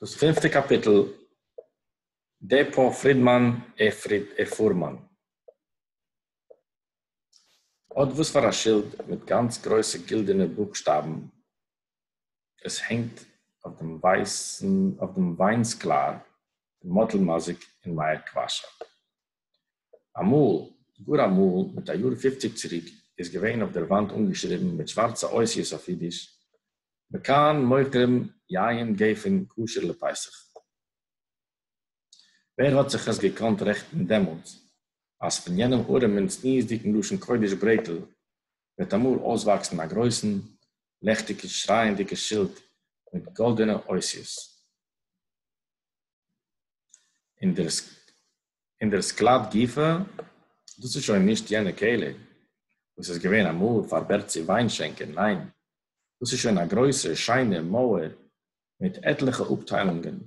דאס פינפטע קאפיטל, ד פ פרידמאן עה פריד עה פורמאן, האט וואס פאר א שילד מיט גאנץ גרויסע גילדענע בוקשטאבן, עס הענגט אויף דעם ווייסן אויף דעם וויין סקלאר פון מאטל מאזיק אין מאיר קוואשאוו. אמאל, גאר אמאל, מיט א יאר פופציג צוריק, איז געווען אויף דער וואנט אנגעשריבן מיט שווארצע אותיות אויף אידיש, מכאן מוכרים יין גפן כשר לפסח. ווער האט זיך עס געקאנט רעכטן דעמאלטס, אז פון יענעם ארעם און צניעות'דיגן לשון קודש ברעטל וועט אמאל אויסוואקסן א גרויסן, לעכטיגן, שרייענדיגן שילד מיט גאלדענע אותיות, און דער און דער סקלאַד גופֿא, דאָס איז שױן נישט יענע כּלה, װאָס איז געװען אַמאָל פֿאַר בערצי װײַנשענקער, נײן, דאָס איז שױן אַ גרױסע, שײנע מױער מיט עטלעכע אָפּטײלונגען,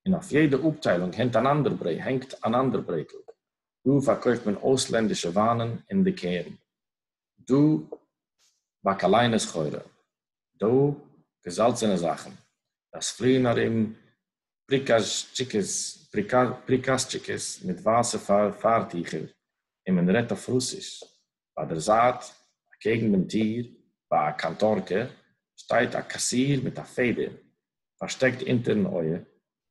און אױף יעדע אָפּטײלונג הענט אַן אַנדער ברעג, הענגט אַן אַנדער ברעגל. דאָ פֿאַרקױפֿט מען אױסלענדישע װײַנען און ליקערן, דאָ, באַקאַלײנע-סחורה, דאָ, געזאַלצענע זאַכן, דאָס פֿליִען אַרום פּריקאַזשטשיקעס, פּריקאַזשטשיקעס מיט ווײַסע פֿאַרטיכער, און מען רעדט אויף רוסיש. בײַ דער זײַט, אַקעגן דעם טיר, בײַ אַ קאַנטאָרקע, שטייט אַ קאַסיר מיט אַ פֿעדער פֿאַרשטעקט אונטערן אויער,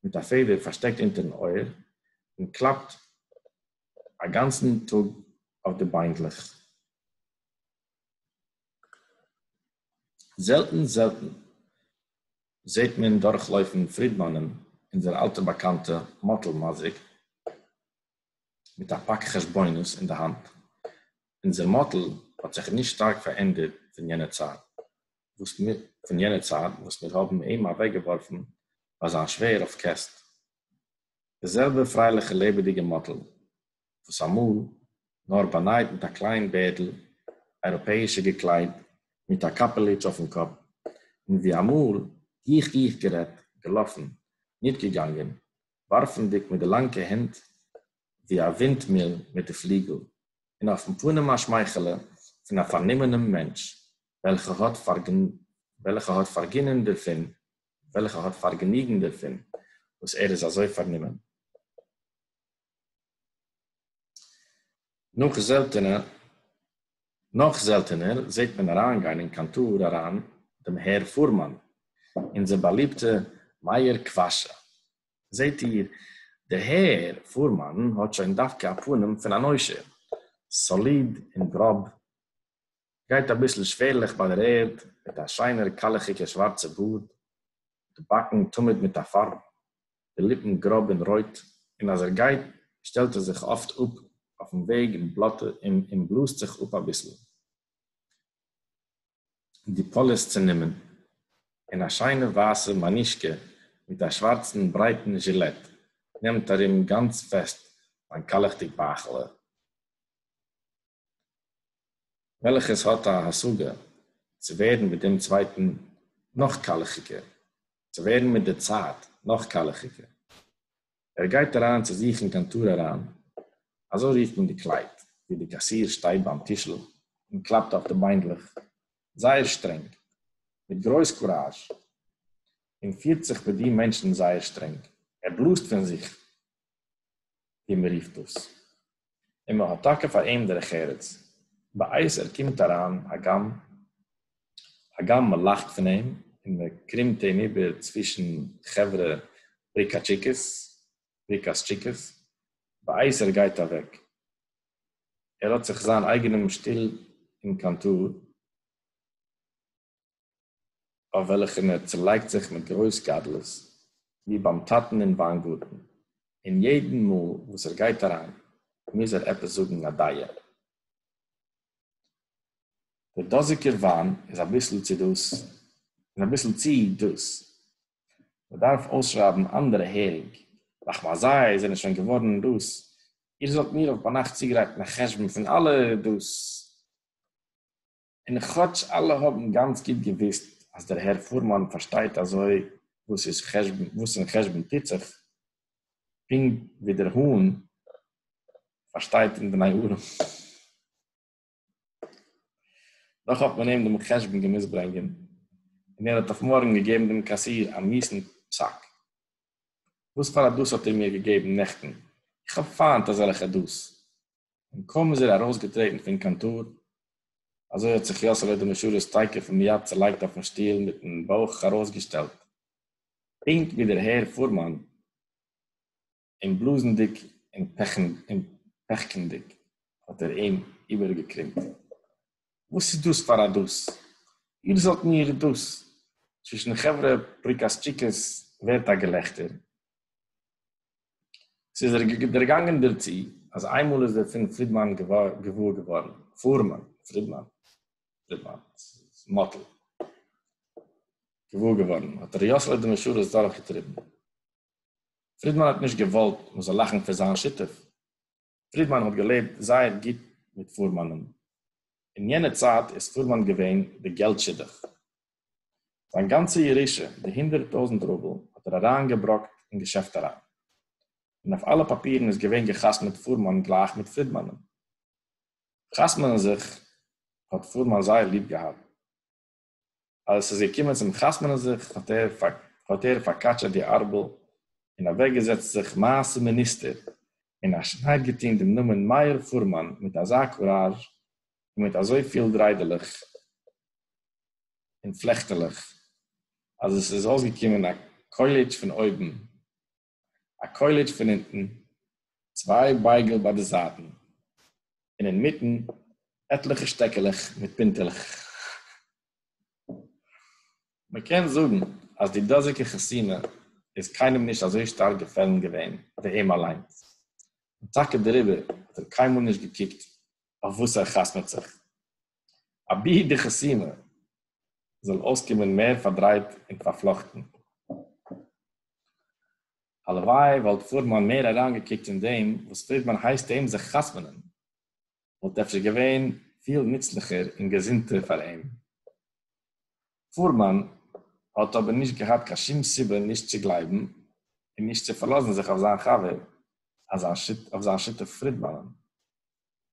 מיט אַ פֿעדער פֿאַרשטעקט אונטערן אויער, און קלאַפּט אַ גאַנצן טאָג אויף די ביינדלעך. זעלטן, זעלטן, זעט מען דורכלויפן פרידמאנ'ען אונזער אלטע באקאנטע מאטל מזיק מיט א פאק חשבונות אין די האנט, אונזער מאטל האט זיך נישט שטארק פארענדערט פון יענע צייט וואס מיר פון יענע צייט וואס מיר האבן אים אוועקגעווארפן ביי זיין שווער אויף קעסט, די זעלבע פרייליכע לעבעדיגע מאטל וואָס אַ מאָל, נאָר באַנײַט מיט אַ קלײן בערדל, אײראָפּעיִשע געקלײדט, מיט אַ קאַפּעליטש אױפֿן קאָפּ, און װי אַ מאָל, גיך-גיך גערעדט, געלאָפֿן, ניט געגאַנגען, װאַרפֿנדיק מיט די לאַנקע הענט, װי אַ װינטמיל מיט די פֿליגל, און אױפֿן פּנים אַ שמײכעלע פֿון אַ פֿאַרנומענעם מענטש, װעלכער האָט פֿאַרגנ, װעלכער האָט פֿאַרגינען דערפֿון, װעלכער האָט פֿאַרגעניגן דערפֿון, װאָס ער איז אַזױ פֿאַרנומען. נאך זעלטענע נאך זעלטענער זעט מען אריינגיין אין קאנטאר אריין דעם הער פורמאן, אונזער באליבטע מאיר קוואשע. זעט איר, דער הער פורמאן האט שוין דווקא א פנים פון אן עושר, סאליד און גראב גייט אביסל שווערליך ביי די רעד, מיט א שיינער קאלעכיגער שווארצע בארד, די באקן תמיד מיט א פארב, די ליפן גראב און רויט, און אז ער גייט שטעלט ער זיך אפט אפ אויפן וועג און און בלאזט זיך אפ אביסל, די פאליס צענומען, און א שיינע ווייסע מאנישקע מיט א שווארצן ברייטן זשילעט נעמט ארום גאנץ פעסט זיין קאלעכדיג בייכעלע. וועלכעס האט א השגה צו ווערן מיט דעם צווייטן נאך קאלעכיגער, צו ווערן מיט די צייט נאך קאלעכיגער. ער גייט אריין צו זיך אין קאנטאר אריין, אזוי רופט מען די קלייט, וואו די קאסיר שטייט ביים טישל און קלאפט אויף די ביינדלעך זייער שטרענג, מיט גרויס קוראזש, און פירט זיך מיט די מענטשן זייער שטרענג. ער בלאזט פון זיך ווי מען רופט דאס, און מען האט טאקע פאר אים דרך ארץ, בעת ער קומט אריין הגם הגם מען לאכט פון אים און מען קרומט אים איבער צווישן חברה פריקאטשיקעס, פריקאסטשיקעס, בעת ער גייט אוועק, ער האט זיך זיין אייגענעם שטיל אין קאנטאר, אויף וועלכן ער צעלייגט זיך מיט גרויס גדלות, ווי ביים טאטן אין וויינגארטן, און יעדן מאל וואס ער גייט אריין מוז ער עפעס זאגן א דיעה. דער דאזיגער וויין איז אביסל צו דאס, איז אביסל צו דאס, מען דארף אויסשרייבן אנדערע הערינג, רח מ אזי זענען שוין געווארן דאס, איר זאלט מיר אויף ביינאכט צוגרייטן א חשבון פון אלע דאס. און כאטש אלע האבן גאנץ גוט געוואוסט אז דער הער פורמאן פארשטייט אזוי וואס איז חשבון וואס אין חשבון טוט זיך, פונקט ווי דער האן פארשטייט אין בני ארם, דאך האט מען אים דעם חשבון געמוזט ברענגען, און ער האט אויף מארגן געגעבן דעם קאסיר א מיסן פסק. וואס פאר א דאס האט איר מיר געגעבן נעכטן? איך האב פיינט אזעלכע דאס! און קוים איז ער אַרויסגעטרעטן פֿון קאָנטאָר, אַזוי האָט זיך יאָסעלע דער משרת תּיכּף און מיד צעלייגט אויפֿן שטול מיטן בויך אַרויסגעשטעלט, פּונקט ווי דער הער פֿורמאַן, און בלאָזנדיק און פּעכענדיק האָט ער אים איבערגעקרימט, וואָס איז דאָס פֿאַר אַ דאָס? איר זאָלט מיר דאָס! צווישן חברה פּריקאַסטשיקעס ווערט אַ געלעכטער. ס'איז ער דערגאַנגען דערצו, אַז איין מאָל איז ער פֿון פֿרידמאַן געוואָר געוואָרן, פֿאָרמאַן, פֿרידמאַן, פֿרידמאַן, ס'איז מאָטל, געוואָר געוואָרן, האָט ר' יאָסעלע די משרת דורכגעטריבן. פֿרידמאַן האָט נישט געוואָלט, מע זאָל לאַכן פֿון זײַן שותּף. פרידמאן האט געלעבט זייער גוט מיט פורמאנ'ן. אין יענע צייט איז פורמאן געווען די געלט שידוך. זיין גאנצע ירושה, די הונדערט טויזנט רובל, האט ער אריינגעבראקט אין געשעפט אריין. און אויף אלע פאפירן איז געווען גע'חתמ'עט פורמאן גלייך מיט פרידמאנ'ן. חתמ'נען זיך האט פורמאן זייער ליב געהאט. אַז עס איז געקומען צום חתמנען זיך, האָט ער פֿאַרקאַטשעט די אַרבל און אַװעקגעזעצט זיך מעשׂה מיניסטער און אַ שנײַד געטאָן דעם נאָמען מאיר פֿורמאַן מיט אַזאַ קוראַזש און מיט אַזױ פֿיל דרײדעלעך און פֿלעכטעלעך, אַז עס איז אױסגעקומען אַ קױלעטש פֿון אױבן. אַ קױלעטש פֿון אונטן, צװײ בײגל בײַ די זײַטן, און אין מיטן, עטלעכע שטעקעלעך מיט פּינטעלעך. מע קען זאָגן, אַז די דאָזיקע חתונה איז קײנעם נישט אַזױ שטאַרק געפֿעלן געװען, װי אים אַלײן, און טאַקע דעריבער האָט ער קײנמאָל נישט געקוקט, אױף װאָס ער חתמעט זיך. אבי די חתונה זאל אויסקומען מער פארדרייט און פארפלאכטן. הלוואי וואלט פורמאן מער אריינגעקוקט אין דעם וואס פרידמאן הייסט אים זיך חתמ'נען, וואלט אפשר געווען פיל נוצליכער און געזונטער פאר אים. פורמאן האט אבער נישט געהאט קיין שום סיבה נישט צו גלייבן און נישט צו פארלאזן זיך אויף זיין חבר, אויף זיין שותף פרידמאנ'ן.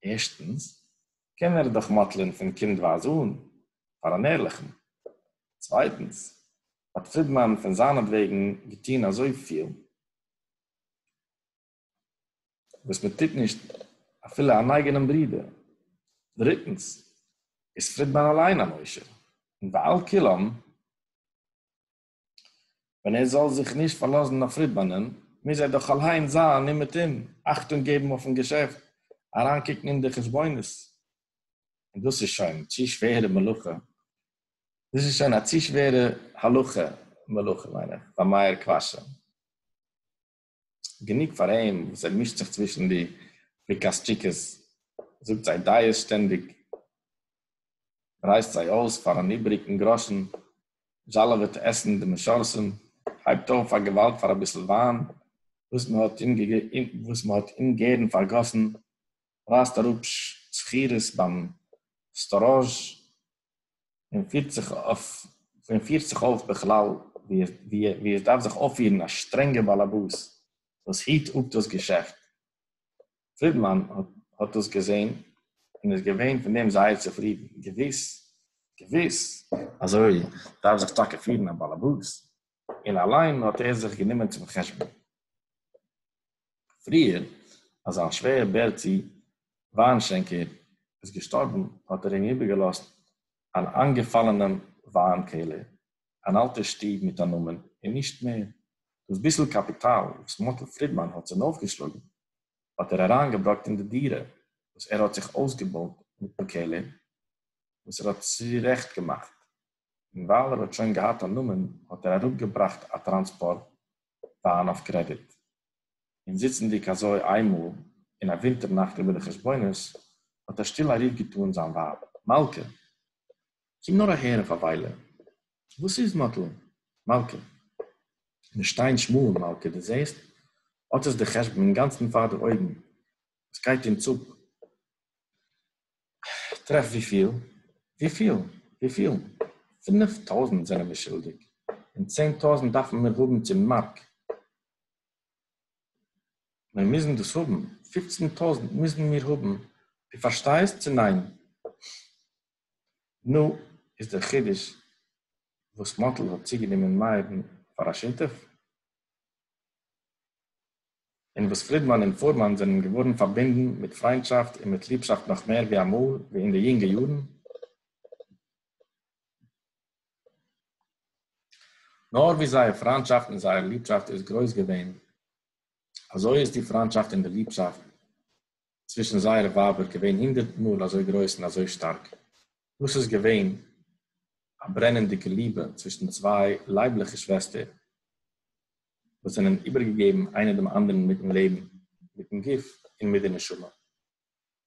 ערשטנס, קען ער דאך מאטלען פון קינדווייז אן, פאר אן ערליכן. צווייטנס, האט פרידמאן פון זיינעטוועגן געטון אזויפיל, וואס מען טוט נישט אפילו אן אייגענעם ברודער. דריטנס, איז פרידמאן אליין אן עושר, און ועל כולם, ווען ער זאל זיך נישט פארלאזן אויף פרידמאנ'ען, מוז ער דאך אליין זיין אומעטום, אכטונג געבן אויפ'ן געשעפט, אריינקוקן אין די חשבונות. און דאס איז שוין צו שווערע מלאכה, דאס איז שוין א צו שווערע הלכה מלאכה, מיין איך, פאר מאיר קוואשער. גענוג פאר אים וואס ער מישט זיך צווישן די פריקאשטשיקעס, זאגט זיי דייעס שטענדיג, רייסט זיי אויס פאר אן איבעריגן גראשן, זשאלעוועט עסן די משרסים, הייבט אויף פאר געוואלד פאר אביסל וויין וואס מען האט אומגערן פארגאסן, רייסט אראפ שכירות ביים סטאראזש, און פירט זיך אויף און פירט זיך אויף בכלל ווי ווי ווי עס דארף זיך אויפפירן א שטרענגער באלעבאס וואס היט אפ דאס געשעפט. פרידמאן האט האט דאס געזען און איז געווען פון דעם זייער צופרידן. געוויס געוויס אזוי דארף זיך טאקע פירן א באלעבאס. און אליין האט ער זיך גענומען צום חשבון פריער אז זיין שווער בערצי וויינשענקער איז געשטארבן האט ער אים איבערגעלאזט אן איינגעפאלענעם וויין קעלער, אן אלטער שטוב מיט א נאמען און נישט מער, דאס ביסל קאפיטאל וואס מאטל פרידמאן האט צונויפגעשלאגן האט ער אריינגעבראקט אין די דירה וואס ער האט זיך אויסגעבויט מיטן קעלער וואס ער האט צורעכט געמאכט. און ווייל ער האט שוין געהאט א נאמען האט ער אראפגעבראכט א טראנספארט וואן אויף קרעדיט, און זיצנדיג אזוי איינמאל אין א ווינטער נאכט איבער די חשבונות האט ער שטיל א רוף געטאן זיין ווייב, מלכה! קום נאר אהער אויף א וויילע! וואס איז, מאטל? מלכה! מיר שטייען שמאל, מלכה, דו זעסט? אט איז דער חשבון אינגאנצן פאר די אויגן, עס גייט אונז אפ! איך טרעף וויפיל? וויפיל? וויפיל? פינף טויזנט זענען מיר שולדיג, און צען טויזנט דארפן מיר האבן צום מארק. מיר מוזן דאס האבן, פופצן טויזנט מוזן מיר האבן, דו פארשטייסט צו ניין? נו, איז דער חידוש וואס מאטל האט צוגענומען מאיר'ן פאר א שותף? און וואס פרידמאן און פורמאן זענען געווארן פארבינדן מיט פריינטשאפט און מיט ליבשאפט נאך מער ווי אמאל ווי אין די יונגע יארן, נאר ווי זייער פריינטשאפט און זייער ליבשאפט איז גרויס געווען, אזוי איז די פריינטשאפט און די ליבשאפט צווישן זייערע ווייבער געווען הונדערט מאל אזוי גרויס און אזוי שטארק. דאס איז געווען א ברענענדיגע ליבע צווישן צוויי לייבליכע שוועסטער, וואס זענען איבערגעגעבן איינע דעם אנדערן מיטן לעבן, מיטן גוף און מיט די נשמה.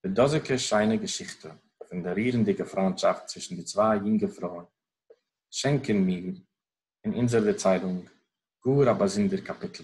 די דאזיגע שיינע געשיכטע פון די רירנדיגע פריינטשאפט צווישן די צוויי יונגע פרויען שענקען מיר אין אונזער דערציילונג גאר א באזונדער קאפיטל.